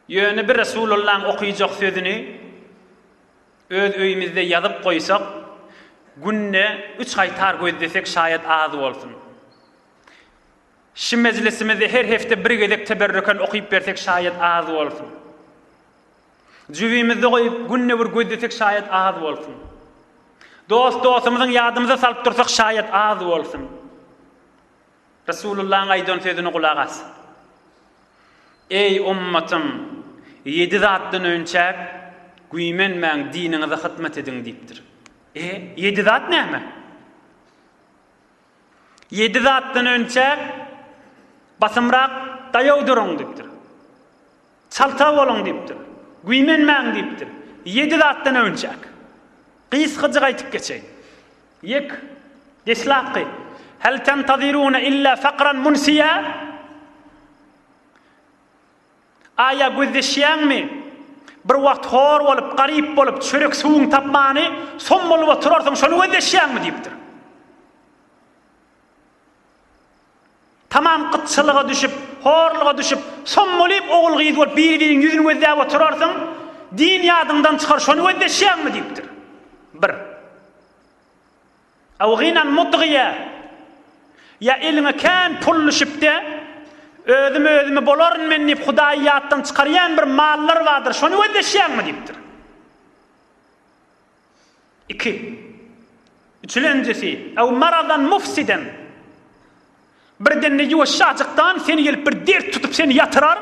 Ýöne bir Resulullaň okyjak sözüni öz öýümizde ýazyp goýsak, günde üç gaýtar gözlesek şaýat az bolsun. Şi mejlisimizde her hepde bir gezek teberrüken okyp bersek şaýat az bolsun. Jübimizde goýup günde bir gözlesek şaýat az bolsun. Dost dostumyzyň ýadymyza salyp dursak şaýat az bolsun. Resulullahyň aýdan sözüne gulak as. Eý, ummatym! Ýedi zatdan önçäk güýmenmäň, diniňize hyzmat ediň diýipdir. E, ýedi zat näme? Ýedi zatdan önçäk basymrak daýaw duruň diýipdir. Çalta boluň diýipdir. Güýmenmäň diýipdir. Ýedi zatdan öwünjek. Gysgajyk aýtyp geçeýin. Ýek. Deslapky. Hal tantaziruna illa fakran munsiýa? Aýa gözleşýäňmi? Bir wagt hor bolup, garyp bolup, çörek suwuň tapmany, som bolup oturarsyň, şony gözleşýäňmi? diýipdir. Tamam gytçylyga düşüp, horluga düşüp, sommalyp ogul-gyz bolup biri-biriň ýüzüni gözläp oturarsyň, din ýadyňdan çykar, şony gözleşýäňmi diýipdir. Bir. Aw gynan mudgyýa, ýa eliňe kän pul düşüpdi, özüm özümi bolaryn men diýip Hudaýy ýatdan çykarýan bir mallar bardyr, şony gözleşýäňmi diýipdir. Iki. Üçülenjisi, ew maradan mufsiden. Birdenli ýuwaşjajykdan seni gelip bir dert tutup seni ýatyrar,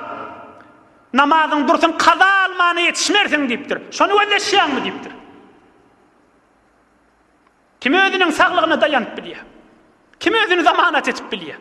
namazyň dursun kaza almana ýetişmersiň diýipdir. Şony gözleşýäňmi diýipdir. Kim özüniň saglygyna daýanyp bilýär? Kim özüni zamanat edip bilýär?